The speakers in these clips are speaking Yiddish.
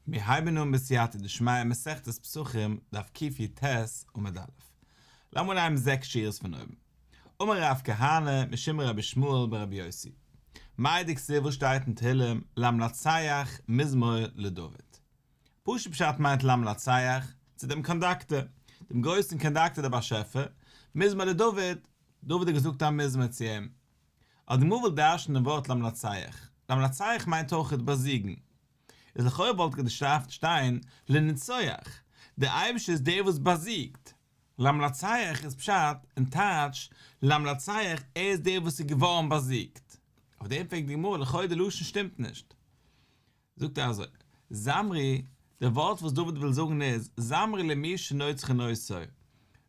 מיר הייבן אן בסייעתא דשמיא מסכת פסחים דף קיט י ט עמוד א'. לאמיר אנהייבן זעקס שורות פון אויבן. אמר רב כהנא משום רבי שמואל בן רבי יוסי. מאי דכסיל וואס שטייט אין תהילים למנצח מזמור לדוד. פשוט פשט מיינט למנצח צו דעם קאנדאקטער, דעם גרויסן קאנדאקטער דער באשעפער, מזמור לדוד, דוד האט געזאגט א מזמור צו אים. אז די מויל וויל דרש'נען דעם ווארט למנצח, למנצח מיינט אויכעט באזיגן, איז לכאורה וואלט געדארפט שטיין לנצח, דער אייבישטער איז דער וואס באזיגט, למנצח איז פשט און טייטש למנצח ער איז דער וואס איז געווארן באזיגט, אויף דעם פרעגט די גמרא לכאורה די לשון שטימט נישט. זאגט ער אזוי, זמרי, די ווארט וואס דוד וויל זאגן איז, זמרי למי שנוצך נוצו,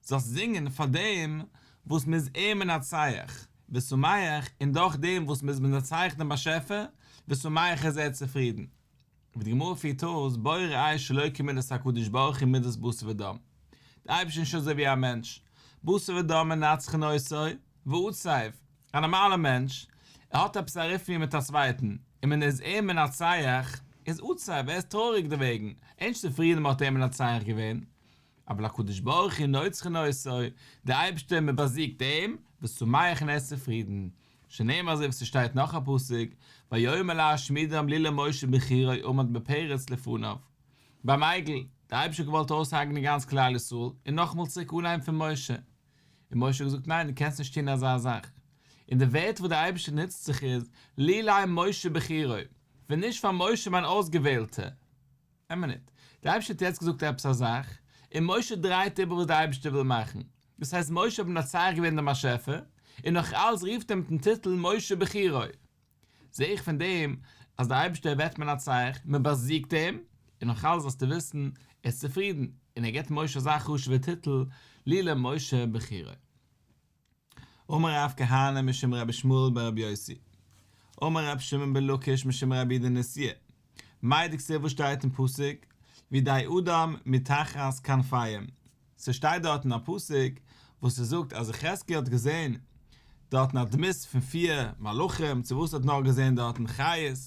זאלסט זינגען פאר דעם וואס מ'איז אים מנצח, ושמח, און דורך דעם וואס מ'איז מנצח דעם באשעפער, ושמח איז ער צופרידן. ווי די גמרא פירט אויס, בורא עי ש אלוקי מידות הקדוש ברוך הוא מידות בשר ודם, דער אייבערשטער איז נישט אזוי ווי א מענטש, בשר ודם מנצחין עושו, ועוצב, א נארמאלער מענטש, ער האט עפעס א אריטמיע מיט א צווייטן, און מען איז אים מנצח, איז עצוב, ער איז טרויעריג דערוועגן, ענק צופרידן מען האט אים מנצח געווען, אבל הקדוש ברוך הוא נוצחן עושו, דער אייבערשטער מען באזיגט אים, ושמח און ער איז צופרידן, שנאמר אזוי ווי ס'שטייט נאך א פסוק, ויאמר להשמידם לי למשה בחירי עמד בפרץ לפניו. ביים עגל, דער אייבערשטער האט געוואלט אויסהרג'נען גאנץ כלל ישראל, און נאכאמאל צוריק אנהייבן פון משה. און משה האט געזאגט, ניין, דו קענסט נישט טון אזא זאך. און די ווערטער וואס דער אייבערשטער נוצט זיך איז, לולי משה בחירי, ווען נישט פאר משה מיין אויסגעוועלטער. איין מינוט, דער אייבערשטער האט יעצט געזאגט עפעס א זאך, און משה דרייט איבער וואס דער אייבערשטער וויל מאכן. דאס הייסט משה האט מנצח געווען דעם באשעפער, און נאך אלס רופט ער מיט'ן טיטל משה בחירי. זע איך פון דעם אז דער אייבערשטער וועט מען א צייכן, מען באזיגט אים, און נאך אלעס זאלסטו וויסן, ער איז צופרידן, און ער געבט משה אזא חשוב'ע טיטל, לי למשה בחירה. אמר רב כהנא משום רבי שמואל בן רבי יוסי, אמר רבי שמעון בן לקיש משום רבי די נשיא, מאי דכסוף וואס שטייט אין פסוק, וידי אדם מתחת כנפיים, ס'שטייט דארטן א פסוק וואס ס'זאגט אז יחזקאל האט געזען דארטן א דמות פון פיר מלאכים, צו וואס האט נאך געזען דארטן חיות,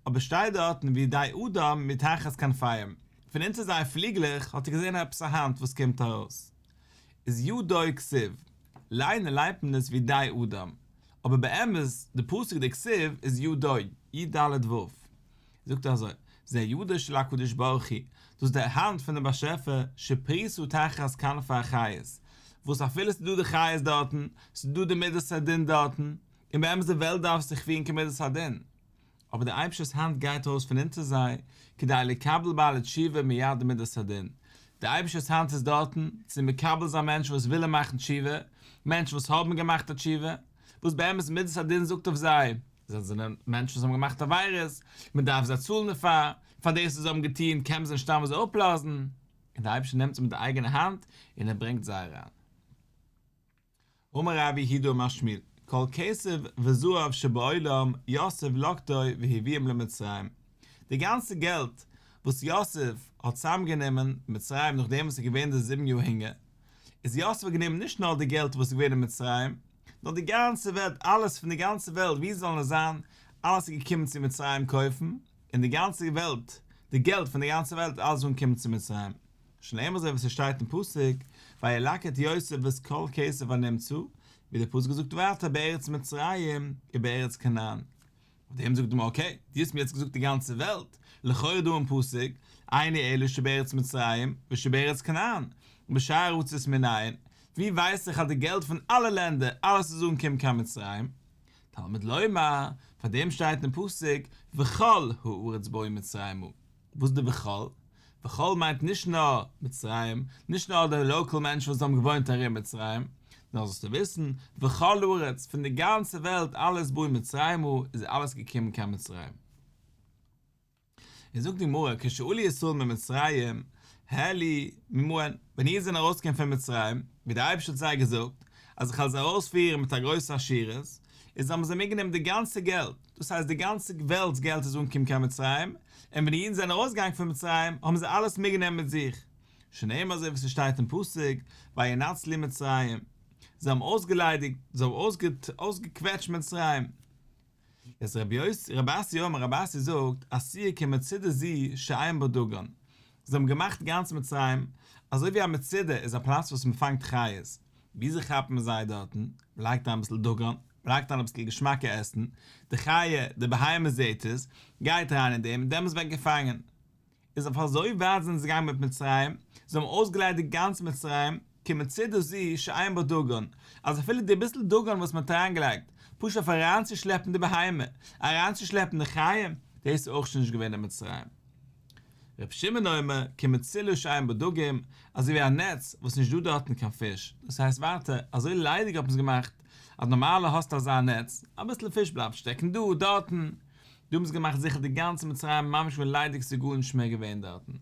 אבער ס'שטייט דארטן ווי די אדם מתחת כנפיים, פון אונטער זייער פליגלעך האט ער געזען עפעס א האנט וואס קומט ארויס, איז י ד אוי כסיב, ליינער ליינט מען עס ווי די אדם, אבער באמת די פסוק די כסיב איז י ד, י ד ו, זאגט ער אזוי, זה ידו של הקדוש ברוך הוא, דאס איז די האנט פון דעם באשעפער, שפריסו תחת כנפי החיות, וואס אפילו ס'איז דא די חיות דארטן, ס'איז דא די מידת הדין דארטן, און באמת די וועלט דארף זיך פירן כמידת הדין, אבער דער אייבערשטער'ס האנט גייט ארויס פון אונטער זיי, כדי לקבל בעלי תשובה מיד מידת הדין, דער אייבערשטער'ס האנט איז דארטן, צו מקבל זיין מענטשן וואס ווילן מאכן תשובה, מענטשן וואס האבן געמאכט א תשובה, וואס באמת מדת הדין זאגט אויף זיי, זיי זענען מענטשן וואס האבן געמאכט עבירות, מען דארף זיי צאלן דערפאר, פאר דאס וואס זיי האבן געטון, קען מען זיי נישט סתם אזוי אפלאזן, און דער אייבערשטער נעמט זיי מיט די אייגענע האנט און ער ברענגט זיי אריין. אמר רבי יהודה אמר שמואל, כל כסף וזהב שבעולם יוסף לקטו והביאם למצרים, די גאנצע געלט וואס יוסף האט צוזאמגענומען אין מצרים נאכדעם וואס עס איז געווען די זיבן יאר הונגער, איז יוסף גענומען נישט נאר די געלט וואס איז געווען אין מצרים, נאר די גאנצע וועלט, אלעס פון די גאנצע וועלט ווי זאלן עס זיין, אלעס איז געקומען צו מצרים קויפן, און די גאנצע וועלט, די געלט פון די גאנצע וועלט איז אלעס געווארן געקומען צו מצרים, שנאמר אזוי ווי עס שטייט אין פסוק, וילקט את יוסף ואת כל כסף ונמצא, ווי דער פסוק זאגט ווייטער בארץ מצרים ובארץ כנען. אויף דעם זאגט די גמרא אקעי, דו האסט מיר יעצט געזאגט די גאנצע וועלט, לכאורה דא אין פסוק, עיני אלו שבארץ מצרים ושבארץ כנען, בשאר ארצות מנין, ווי ווייס איך אז די געלט פון אלע לענדער, אלעס צו זאגן קומט קיין מצרים? תלמוד לומר, פאר דעם שטייט אין פסוק וכל הארץ באו מצרימה. וואס איז די וכל? וכל מיינט נישט נאר מצרים, נישט נאר די לאקעל מענטשן וואס האבן געוואוינט ארום מצרים, נאר זאלסטו וויסן, וכל הארץ, פון די גאנצע וועלט אלעס באו מצרימה, איז אלעס געקומען קיין מצרים. און זאגט די גמרא, כשעלו ישראל ממצרים, העלו ממעון, ווען אידן זענען ארויסגעקומען פון מצרים, ווי דער אייבערשטער האט זיי געזאגט, אז איך וועל זיי ארויספירן מיט א גרויסע עשירות, איז האבן זיי מיטגענומען די גאנצע געלט, דאס הייסט די גאנצע וועלט'ס געלט איז אנגעקומען קיין מצרים, און ווען די אידן זענען ארויסגעגאנגען פון מצרים האבן זיי אלעס מיטגענומען מיט זיך, שנאמר אזוי ווי ס'שטייט אין פסוק, וינצ לי מצרים, זיי האבן אויסגעליידיגט, זיי האבן אויסגעקוועטשט מצרים. איז ר' אסי אומר, רבי אסי זאגט, עשיה כמצדה ז שעיין בה דגן, זיי האבן געמאכט גאנץ מצרים אזוי ווי א מצדה איז א פלאץ וואס מ'פאנגט חיות, וויאזוי כאפט מען זיי דארטן? מ'לייגט אריין אביסל דגן, מ'לייגט אריין אביסל געשמאקע עסן, די חיה, די בהמה זעהט עס, גייט אריין אין דעם און דעמאלס ווערט געפאנגען. איז אויף אזוי ווייט זענען זיי געגאנגען מיט מצרים, זיי האבן אויסגעליידיגט גאנץ מצרים, כמצדה זו שאין בה דגן, אז אפילו די ביסל דגן וואס מ'האט אריינגעלייגט, פשוט אויף אריינצושלעפן די בהמה, אריינצושלעפן די חיה, דאס איז אויך שוין נישט געווען אין מצרים. ר' שמעון אומר כמציל שעיין בדגים, אזוי ווי א נעץ וואס נישט דא דארטן קיין פיש, דאס הייסט ווייטער אזוי ליידיג האט מען עס געמאכט, אז נארמאלע האסטו אזא נעץ, אביסל פיש בלייבט שטעקן דא, דארטן, דא האבן זיי געמאכט זיכער די גאנצע מצרים ממש ווי ליידיג ס'איז גארנישט מער געווען דארטן.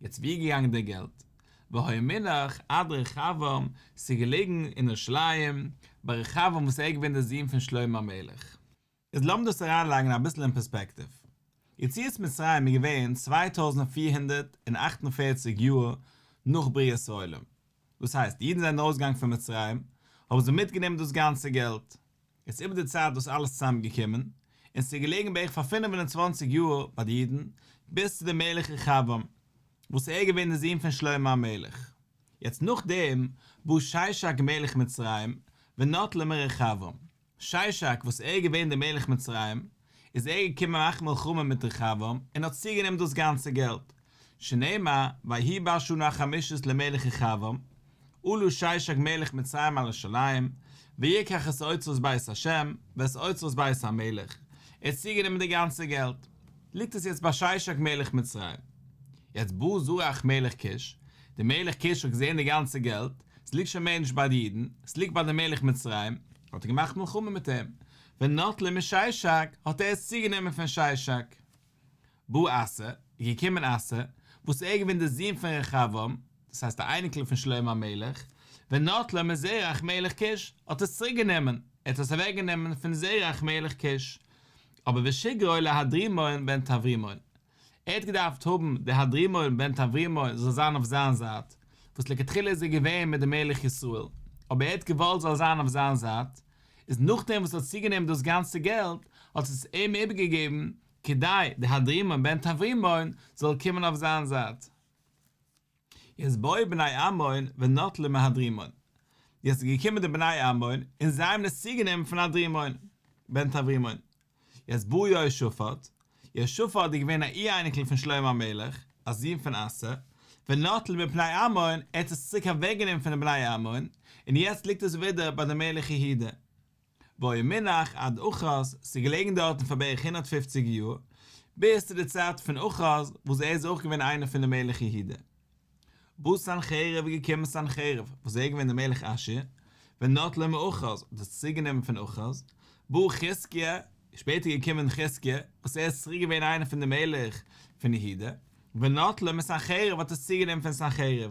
יעצט ווי איז געגאנגען דער געלט? והוי מינח עד רחבעם, ס'איז געלעגן אין ירושלים ביי רחבעם וואס ער איז געווען דער זון פון שלמה המלך. איז לאמיר דאס אריינלייגן אביסל אין פערספעקטיוו. יציאת מצרים איז געווען צוויי טויזנט פֿיר הונדערט און אַכט און פֿערציק יאר נאך בריאת העולם. דאס הייסט, אידן זענען ארויסגעגאנגען פון מצרים, האבן זיי מיטגענומען דאס גאנצע געלט. איז איבער די צייט דאס אלעס צוזאמגעקומען, און ס'איז געלעגן בערך פאר פֿינף און צוואַנציק יאר ביי די אידן, ביז צו די מלך רחבעם, וואס ער איז געווען די זון פון שלמה המלך. יעצט נאכדעם בא ששק מלך מצרים ונטל מרחבעם. שישאק וואס ער איז געווען דער מלך מצרים, איז ער געקומען מאכן מלחמה מיט רחבעם, און האט צוגענומען דאס גאנצע געלט, שנאמר, ויהי בא שנה החמישית למלך רחבעם, עלו שישאק מלך מצרים על ירושלים, ויקח את אוצרות בית השם, ואת אוצרות בית המלך, ער האט צוגענומען די גאנצע געלט, ליגט עס יעצט ביי שישאק מלך מצרים. יעצט בא זרח מלך כוש, דער מלך כוש האט געזען די גאנצע געלט, עס ליגט שוין מער נישט ביי די אידן, עס ליגט ביי דעם מלך מצרים, האט ער געמאכט מלחמה מיט אים, ונטלה משישק, האט ער עס צוגענומען פון שישק. בא עשה, איז געקומען עשה, וואס ער איז געווען דער זון פון רחבעם, דאס הייסט דער אייניקל פון שלמה המלך, ונטלה מזרח מלך כוש, האט עס צוריק גענומען, ער האט עס אוועק גענומען פון זרח מלך כוש, אבער ושגרעו להדרימון בן תברימון, ער האט געדארפט האבן די האדרימאל בן תברימאל זאל זיין אויף זיין זייט, וואס לכתחילה איז ער געווען מיט די מלך ישראל, אבער ער האט געוואלט זאל זיין אויף זיין זייט, איז נאכדעם וואס ער האט צוגענומען דאס גאנצע געלט, האט עס אים איבערגעגעבן, כדי די האדרימאל בן תברימאל זאל קומען אויף זיין זייט. יעצט בואו בני עמון ונטלו מהדרימון, יעצט איז געקומען די בני עמון און זיי האבן עס צוגענומען פון הדרימון, בן תברימון, יעצט בא יהושפט, יהושפט איז געווען א אי-אייניקל פון שלמה המלך, א זון פון אסא, ונטל מפני עמון, ער האט עס צוריק אוועקגענומען פון די בני עמון, און יעצט ליגט עס ווידער ביי די מלך יהודה. והוי מונח עד אחז, ס'איז געלעגן דארטן פאר בערך הונדערט פֿופֿציק יאר, ביז צו די צייט פון אחז, וואס ער איז אויך געווען איינער פון די מלך יהודה. בא סנחריב איז געקומען סנחריב, וואס ער איז געווען דער מלך אשור, ונטלה מאחז, האט עס צוריק גענומען פון אחז, בא חזקיה, איז שפעטער געקומען חזקיה, וואס ער איז צוריק געווען איינער פון די מלך פון יהודה, ונטלה מסנחריב, האט עס צוריק גענומען פון סנחריב.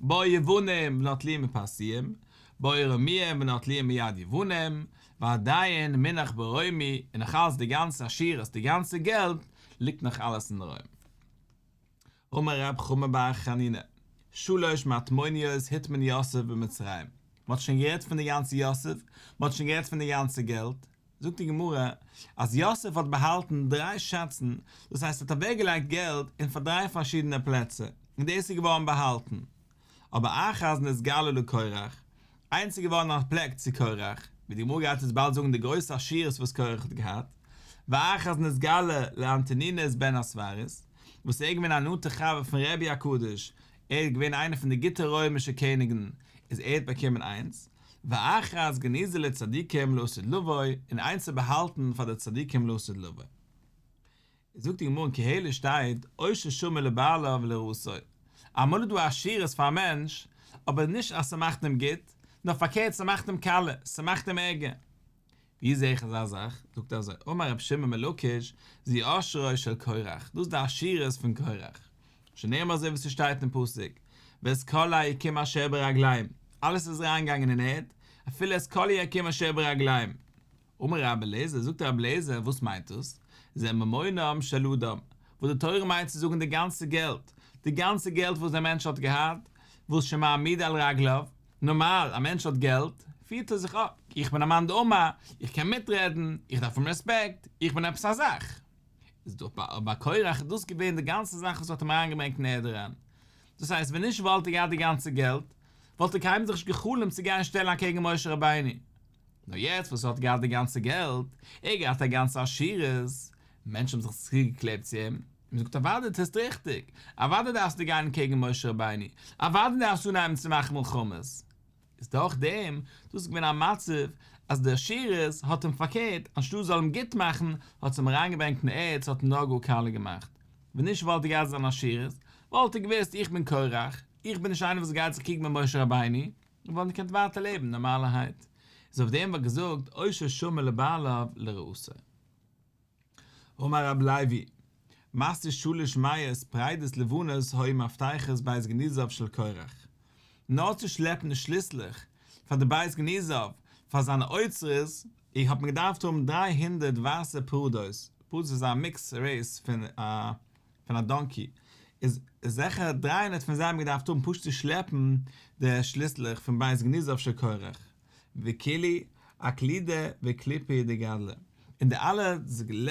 בא יוונים ונוטלים מפרסיים, בא ארמיים ונוטלים מיד יוונים, ועדיין מינח ברוימי, און נאך אלץ די גאנצע עשירות, די גאנצע געלט, ליגט נאך אלעס אין רוים. אמר רב חמא בר חנינא, שלש מטמוניות הטמין יוסף במצרים, מען האט שוין גערעדט פון די גאנצע יוסף, מען האט שוין גערעדט פון די גאנצע געלט, זאגט די גמרא אז יוסף האט באהאלטן דריי שאצן, דאס הייסט ער האט אוועק געלייגט געלט אין פאר דריי פארשידענע פלעצער, און דאס איז געווארן באהאלטן. אבער אחז נתגלה לקרח, איינס איז געווארן א פלעק צו קרח, ווי די גמרא גייט אונז באלד זאגן די גרויסע עשירות וואס קרח האט געהאט, ואחז נתגלה לאנטונינוס בן הספרס, וואס ער איז געווען א נאנטע חבר פון רבי'ן הקדוש, ער איז געווען איינער פון די גוטע רוימישע קעניגן, איז ער האט באקומען איינס. ואחרית גניזה לצדיקים לעשות לבוי, און איינס צו באהאלטן פאר די צדיקים לעשות לבוי. זאגט די גמרא אין קהלת שטייט עושר שומר לבעליו ולרעשו, אמאל איז דא עשירות פאר א מענטש, אבער נישט אז ס'מאכט אים גוט, נאר פארקערט ס'מאכט אים קאלע, ס'מאכט אים ערגער. ווי זע איך אזא זאך? זאגט ער אזוי, אמר רבי שמעון מלוקש, זי עשרו של קרח, דאס איז די עשירות פון קרח, שנאמר אזוי ווי ס'שטייט אין פסוק, ואת כל היקים אשר ברגלים, אלעס איז אריינגעגאנגען אין ערד, אפילו את כל היקים אשר ברגלים. אמר רבי אליעזר, זאגט רבי אליעזר, וואס מיינט דאס? זה ממונם של אדם, וואס די תורה מיינט צו זאגן די גאנצע געלט, די גאנצע געלט וואס דער מענטש האט געהאט, וואס שמעמיד על רגליו, נארמאל, א מענטש האט געלט, פירט ער זיך אפ, איך בין א מאן דאומה, איך קען מיטרעדן, איך דארף אים רעספעקט, איך בין עפעס א זאך. איז דאך ביי אבא קורח דאס געווען די גאנצע זאך וואס האט אים אריינגעברענגט אין ערד אריין. דאס הייסט ווען נישט וואלט ער געהאט די גאנצע געלט, וואלט ער קיינמאל זיך נישט גע'חלומ'ט צו גיין שטעלן אקעגן משה רבינו. נאר יעצט וואס ער האט געהאט די גאנצע געלט, ער האט געהאט א גאנצע עשירות, מענטשן האבן זיך צוגעקלעבט צו אים, און מ'זאגט אוואדע דו טוסט ריכטיג, אוואדע דארפסטו גיין קעגן משה רבינו, אוואדע דארפסטו אנהייבן צו מאכן מלחמות, איז דורך דעם דאס איז געווען א מצב אז די עשירות האט אים פארקערט, אנשטאט זאל אים גוט מאכן האט עס אים אריינגעברענגט אין ערד, ס'האט אים נאר גאר קאלע געמאכט, ווען נישט וואלט ער געהאט זיין עשירות, וואלט ער געוואוסט איך בין קרח, איך בין נישט איינער וואס גייט זיך קריגן מיט משה רבינו, און וואלט געקענט ווייטער לעבן נארמאלערהייט, איז אויף דעם וואלט געזאגט עושר שומר לבעליו לרעותו. אמר רבי לייבי, מסתיר שלש מאות פריידעס לבנות הוי מפתחות בית גניזיו של קרח. נאר צו שלעפן די שליסלעך פאר די בית גניזיו פאר זיינע אוצרות אי האט מען געדארפט האבן דריי הונדערט ווייסע פראדאוס, פראדאוס איז א מיקס רעיס פון א. פון א דאנקי איז זעכער דרײַ הונדערט פון זיי האבן געדארפט האבן פשוט צו שלעפן די שליסלעך פון בית גניזה אויף שיכורך וכולי אקלידא וקליפי דגדלא און די אלע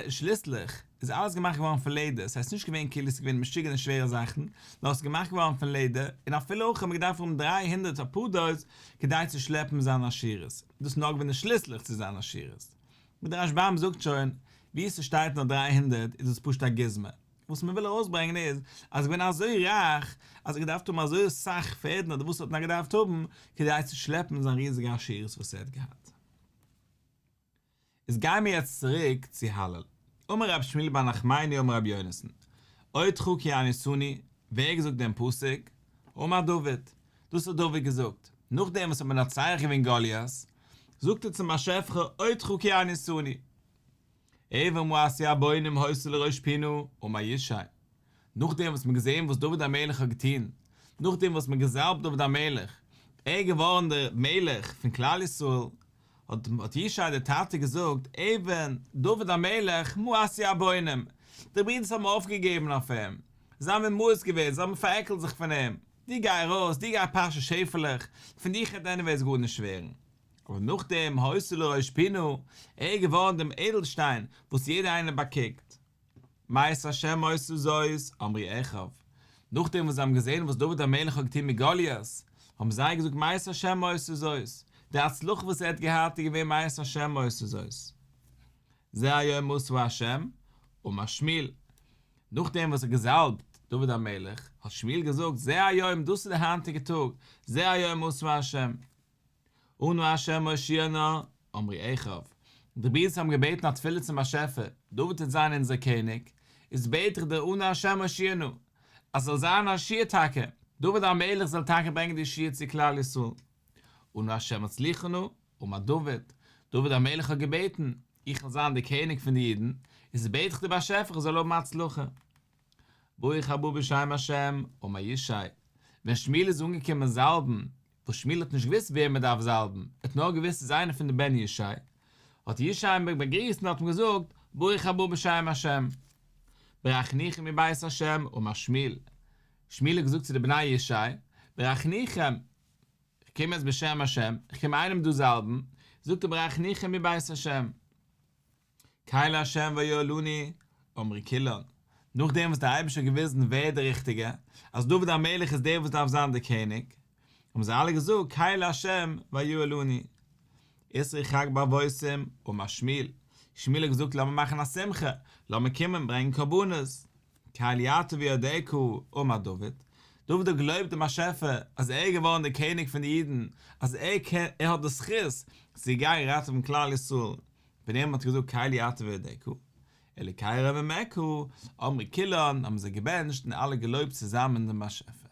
שליסלעך איז אלעס געמאכט געווארן פון לעדער ס'הייסט נישט געווען כאילו ס'איז געווען משוגענע שווערע זאכן נאר ס'איז געמאכט געווארן פון לעדער און אפילו אויך האבן געדארפט האבן דרײַ הונדערט אפאר דאס כדי צו שלעפן זיין עשירות דאס נאר געווען די שליסלעך צו זיין עשירות. ווי דער רשב ם זאגט שוין, ווי ס'שטייט נאר דריי הונדערט איז דאס פשוט א גוזמא. וואס מ'וויל ארויסברענגען איז אז כ'בין אזוי רייך אז כ'האב געדארפט האבן אזוי אסאך פערדן אדער וואס ער האט נאר געדארפט האבן כדי צו שלעפן זיין ריזיגע עשירות וואס ער האט געהאט. איז גיימיר יעצט צוריק צו הלל. אמר רבי שמואל בר נחמני אמר רבי יונתן, עוד חוק כי אני שונא, ווער האט געזאגט דעם פסוק? אמר דוד, דאס האט דוד געזאגט, נאכדעם וואס האט מנצח געווען גוליית, זאגט ער צום באשעפער אותך כי אני שונא אויב און מעשי הבונים הויסע לראש פינו ומה ישי נאכדעם וואס מ'האט געזעהן וואס דוד המלך האט געטוהן נאכדעם וואס מ'האט געזאלבט דוד המלך ער איז געווארן דער מלך פון כלל ישראל האט ישי דער טאטע געזאגט אויב דוד המלך מעשי הבונים די ברידערס האבן אויפגעגעבן אויף אים זיי האבן אים מאוס געווען זיי האבן פארעקלט זיך פון אים דו גיי ארויס, דו גיי פאשע שעפעלעך, פון דיך העט עניוועיס גארנישט ווערן. אבער נאכדעם הויזטו לראש פינו, ער איז געווארן דעם איידלשטיין וואס יעדער איינער באקוקט. מאת השם עשו זאת, אמרי עכב. נאכדעם וואס זיי האבן געזען וואס דוד המלך האט געטון מיט גוליית, האבן זיי געזאגט מאת השם עשו זאת, די הצלחה וואס ער האט געהאט איז געווען מאת השם עשו זאת. זה היום עשו ה', אמר שמואל. נאך דעם וואס ער האט געזאלבט דוד המלך, האט שמואל געזאגט, זה היום, דאס איז דער היינטיגער טאג, זה היום עשה ה', אנו ה' מושיענו, אמרי איכה. די ברידערס האבן געבעטן א תפילה צום באשעפער, דוד וועט זיין אונזער קעניג, איז בעט איך דיר אנו ה' מושיענו, אז ס'זאל זיין א ישועה טאקע, דוד המלך זאל טאקע ברענגען די ישועה צו כלל ישראל, אנו ה' מצליחנו, אמר דוד, דוד המלך האט געבעטן, איך וויל זיין דער קעניג פון די אידן, איז בעט איך דיר באשעפער איך זאל האבן הצלחה. ברוך הבא בשם השם, אמר ישי, ווען שמואל איז אנגעקומען זאלבן, וואס שמואל האט נישט געוואוסט וועם ער דארף זאלבן, ער האט נאר געוואוסט ס'איז איינער פון די בני ישי, האט ישי אים באגריסט און האט אים געזאגט, ברוך הבא בשם השם. ברכניכם מבית השם, אמר שמואל, שמואל האט געזאגט צו די בני ישי, ברכניכם, כ'קום יעצט בשם השם, כ'קום איינעם דא זאלבן, זאגט ער ברעך ניחא מבית השם. קאי להשם ויועלני, אמרי קילון, נאכדעם וואס דער אייבערשטער האט געוויזן ווער דער רוכטיגער, אז דוד המלך איז דער וואס דארף זיין דער קעניג, האבן זיי אלע געזאגט קאי להשם ויועלני. איסר ירחק באבוסים, אמר שמואל, שמואל האט געזאגט לאמיר מאכן א שמחה, לאמיר קומען ברענגען קרבנות. קהל יעטב ידעך אמר דוד, דוד האט געלויבט דעם באשעפער אז ער איז געווארן דער קעניג פון די אידן, אז ער קען, ער האט די זכות צו גיין ראטעווען כלל ישראל, פון אים האט ער געזאגט קהל יעטב ידעך, אלוקי ראה ועמק הוא, אמרי כולן, האבן זיי געבענטשט און אלע געלויבט צוזאמען דעם באשעפער.